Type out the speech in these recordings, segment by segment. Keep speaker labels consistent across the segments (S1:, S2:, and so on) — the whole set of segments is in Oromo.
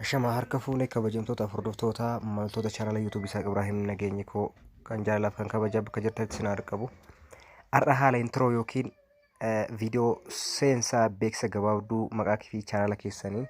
S1: Shama harka fuune kabajamtoota hordoftoota maltoota chaanala yuutuubii isaa Ibraahim Nageenyi koo kan jaalalaaf kan kabajaa bakka jirtanitti isin haa qabu. Har'a haala intiroo yookiin viidiyoo seensaa beeksisa gabaabduu maqaa kee fi chaanala keessaniin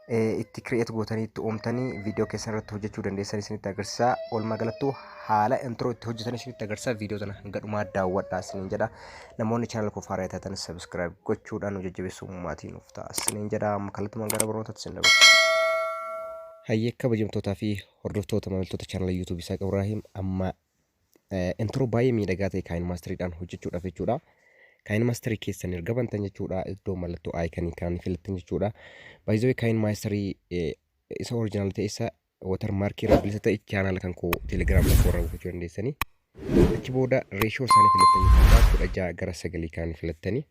S1: eh, itti kireet gootanii itti uumtanii viidiyoo keessan irratti hojjechuu dandeessan isinitti agarsiisa. Walumaa galattuu haala intro itti hojjetan isinitti agarsiisa viidiyoo sana hanga dhumaa daawwadhaa isiniin jedha. Namoonni chaanala koo faaraa taatan sabiskiraayib gochuudhaan nu jajjabeessuu maatii nuuf ta'a isiniin jedha. Amma kallattumaan gara barnootaatti isin dabarsa. Hayyee kabajamtootaa fi hordoftoota maamiltoota chaanala YouTube Isaaq Ibraahim amma Intro baay'ee miidhagaa ta'e kaayin maastiriidhaan hojjechuudhaaf jechuudha. Kaayin maastirii keessan erga bantan jechuudha iddoo mallattoo aayikanii kan filattan jechuudha. Baay'ee kaayin maastirii isa originaal ta'e isa watar maarkii irraa bilisa ta'e chaanaala kan koo telegiraam irratti warra buufachuu dandeessanii. Achi booda reeshoo isaanii filattan jechuudha kudha ja'a gara sagalii kan filattanii.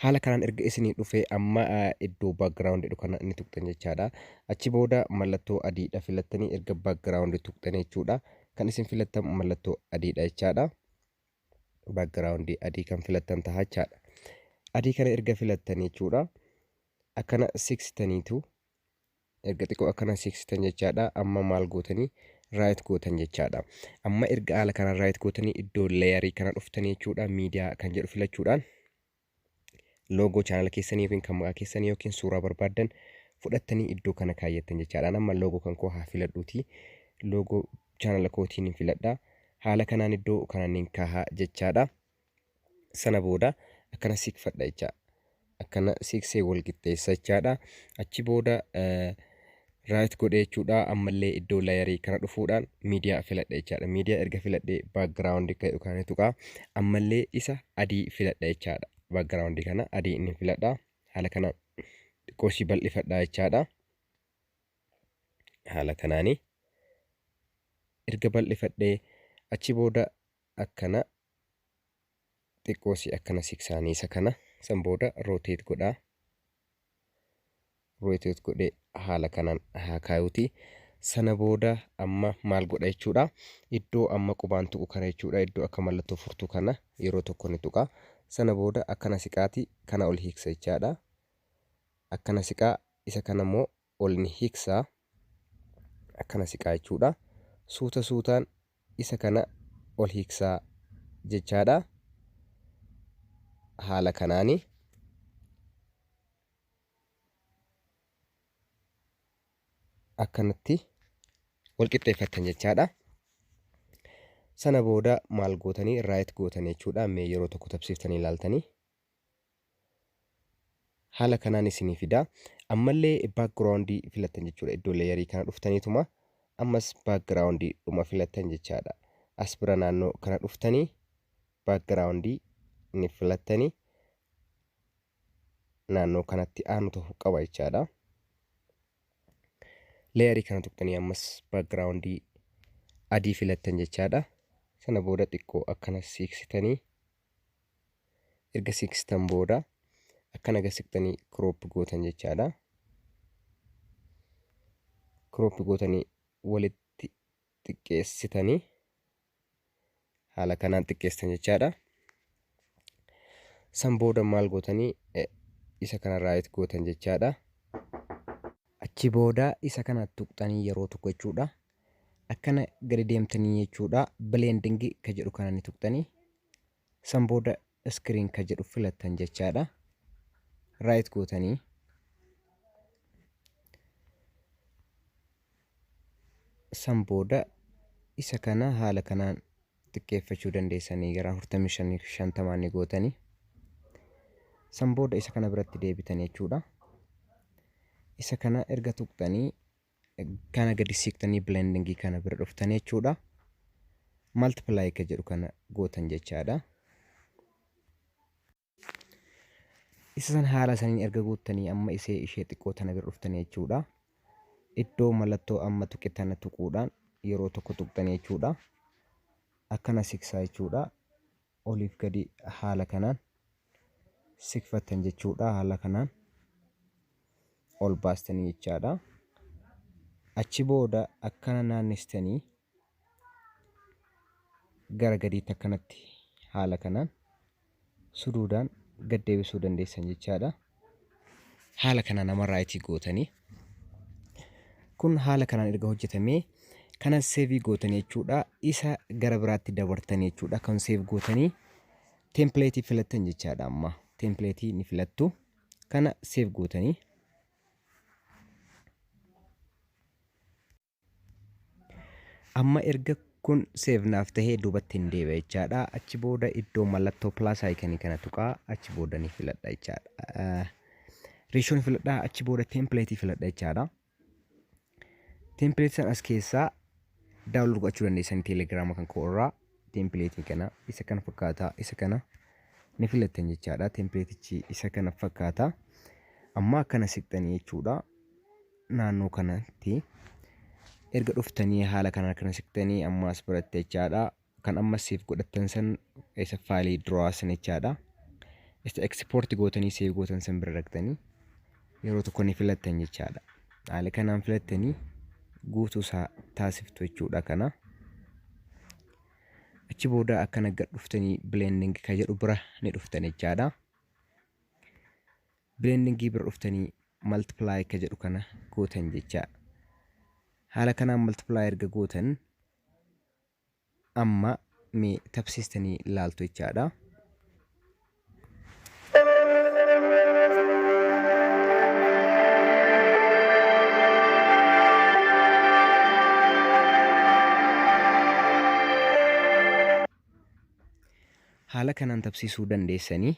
S1: Haala kanaan erga isinii dhufee amma iddoo background jedhu kana ni tuqxan jechaadha. Achi booda mallattoo adiidha filattanii erga background tuqxan jechuudha. Kan isin filattan mallattoo adiidha jechaadha. Background adii kan filattan taha jechaadha. Adii kana erga filattan jechuudha. Akkana siksitaniitu erga xiqqoo akkana seeksitan jechaadha amma maal gootanii raayit gootan jechaadha amma erga haala kanaan raayit gootanii iddoo leeyarii kana dhuftanii jechuudha miidiyaa kan jedhu filachuudhaan loogoo chaanala keessanii yookiin kan maqaa keessanii yookiin suuraa barbaaddan fudhattanii iddoo kana kaayyattan jechaadha amma loogoo kan koo haa filadhuuti loogoo chaanala kootiin hin filadha haala kanaan iddoo kananiin kaahaa jechaadha sana booda akkana siqfadha jecha akkana siqsee wal qixxeessa jechaadha achi booda raayit godhee jechuudha ammallee iddoo layarii kana dhufuudhaan miidiyaa filadha jechaadha miidiyaa erga filadhee baakgiraawundi kan jedhu kana tuqaa ammallee isa adii filadha jechaadha baakgiraawundi kana adii inni filadha haala kana xiqqoo ishii bal'ifadha jechaadha haala kanaani erga bal'ifadhee achi booda akkana xiqqoo si akkana siksaanii isa kana san booda rotate godhaa rotate godhee haala kanaan haa kaayuuti sana booda amma maal godha jechuudha iddoo amma qubaan tuqu kana jechuudha iddoo akka mallattoo furtuu kana yeroo tokko ni tuqa sana booda akkana siqaati kana ol hiiksa jechaadha akkana siqaa isa kana immoo ol ni hiksa, akkana siqaa jechuudha. Suuta suutaan isa kana ol hiksaa jechaadha. Haala kanaani. akkanatti wal qixxeeffattan jechaadha. Sana booda maal gootanii raayit gootanii jechuudha. Mee yeroo tokko tabsiiftanii ilaaltanii haala kanaan isinii fida ammallee background filattan jechuudha iddoo layerii kana dhuftaniituma ammas background dhuma filattan jechaadha as bira naannoo kana dhuftanii background ni filattanii naannoo kanatti aanu ta'uu qaba jechaadha layerii kana tuqxanii ammas background adii filattan jechaadha sana booda xiqqoo akkana siiksitanii erga siqstan booda akkana gad siqtanii crop gootan jechaadha. Crop gootanii walitti xiqqeessitanii haala kanaan xiqqeessitan jechaadha. San booda maal gootanii isa kana raayit gootan jechaadha. Achi booda isa kana tuqxanii yeroo tokko jechuudha. akkana gadi deemtanii jechuudha blending ka jedhu kana ni tuqxanii san booda screen ka jedhu filattan jechaadha right gootanii san booda isa kana haala kanaan xiqqeeffachuu dandeessanii gara 45 ni gootanii san booda isa kana biratti deebitan jechuudha isa kana erga tuqxanii kana gadi siiqtanii blending kana bira dhuftanii jechuudha multiply ka jedhu kana gootan jechaadha isa san haala saniin erga guuttanii amma isee ishee xiqqoo tana bira dhuftanii jechuudha iddoo mallattoo amma tuqe tana tuquudhaan yeroo tokko tuqxanii jechuudha akkana siksaa jechuudha oliif gadi haala kanaan sikfattan jechuudha haala kanaan ol baastanii jechaadha achi booda akkana naannistanii gara gadiitti akkanatti haala kanaan suduudaan gaddeebisuu dandeessan jechaadha haala kanaan nama raayitii gootanii kun haala kanaan erga hojjetamee kana seevii gootanii jechuudha isa gara biraatti dabartanii jechuudha kan seef gootanii teempileetii filattan jechaadha amma teempileetii ni filattu kana seef gootanii Amma erga kun save naaf tahee duubatti hin deebi'a jechaadha. Achi booda iddoo mallattoo plus icon kana tuqaa achi booda ni filadha jechaadha. Ratio ni filadha achi booda template filadha jechaadha. Template san as keessaa download gochuu dandeessan telegram kan koo irraa template kana isa kana fakkaata isa kana ni filattan jechaadha. Template isa kana fakkaata. Amma akkana siqxanii jechuudha. naannoo kanatti erga dhuftanii haala kanaan kana siqtanii amma as biratte jechaadha kan amma siif godhattan san isa faalii duraa san jechaadha isa ekspoorti gootanii siif gootan san bira dhaqtanii yeroo tokko ni filattan jechaadha haala kanaan filattanii guutuu isaa taasiftu jechuudha kana achi booda akkana gad dhuftanii blending ka jedhu bira ni dhuftan jechaadha Blending bira dhuftanii multiply ka jedhu kana gootan jechaa. Haala kanaan multiply erga gootan amma mee tabsiistanii laaltu jechaadha. Haala kanaan tabsiisuu dandeessanii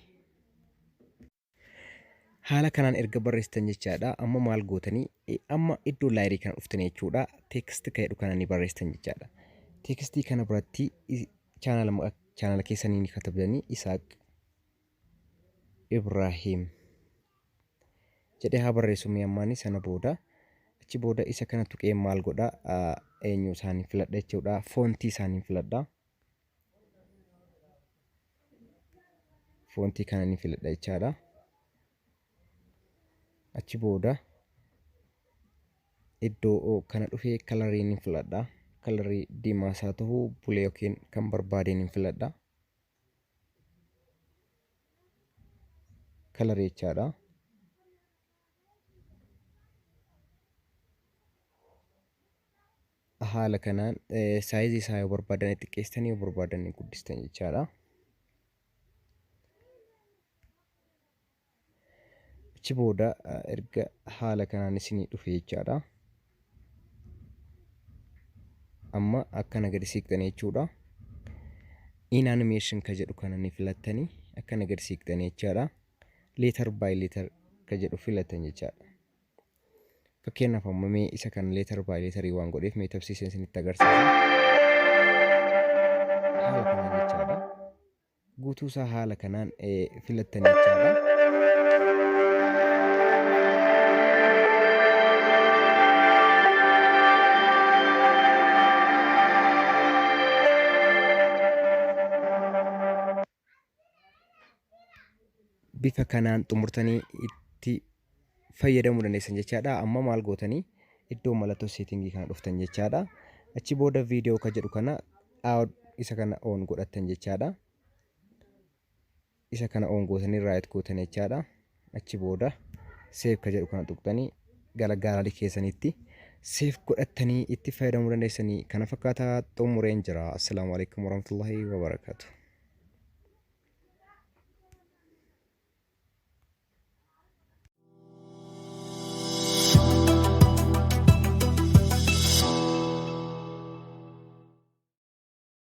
S1: Haala kanaan erga barreessitan jechaadha. Amma maal gootanii eh, amma iddoo laayirii kana dhuftanii jechuudha. Teeksti kan jedhu kana ni barreessitan jechaadha. Teekstii kana biratti i- chaanala maqa- chaanala keessanii ni katabdanii Isaaq Ibraahiim jedhee haa barreessu mee ammaanii sana booda achi booda isa kana tuqee maal godha ah, eenyu isaanii filadha jechuudha. Foontii isaanii filadha. foontii kana ni filadha jechaadha. Achi booda iddoo kana dhufee kalarii ni filadha. Kalarii diimaas haa ta'u bulee yookiin kan barbaadeen ni filadha. Kalarii jechaadha. Haala kanaan saayizii isaa yoo barbaadan ni xiqqeessitan yoo barbaadan ni guddistan jechaadha. Achi booda erga haala kanaan isinii dhufe jechaadha. Amma akkana gadi siiqxan jechuudha. In animation ka jedhu kana ni filattani akkana gadi siiqxan jechaadha. Leetar baay leetar ka jedhu filatan jechaadha. Fakkeenyaaf amma mee isa kan leetar baay leetarii waan godheef mee tabsiiseen isinitti agarsiisa. Haala kanaan jechaadha. Guutuu isaa haala kanaan filattan jechaadha. bifa kanaan xumurtanii itti fayyadamuu dandeessan jechaadha amma maal gootanii iddoo mallattoo seetingii kana dhuftan jechaadha achi booda viidiyoo ka jedhu kana out isa kana oon godhattan jechaadha isa kana oon gootanii raayit gootan jechaadha achi booda save ka jedhu kana tuqxanii gara gaalari keessanitti save godhattanii itti fayyadamuu dandeessanii kana fakkaataa xumureen jira assalaamu alaikum warahmatullahi wabarakaatu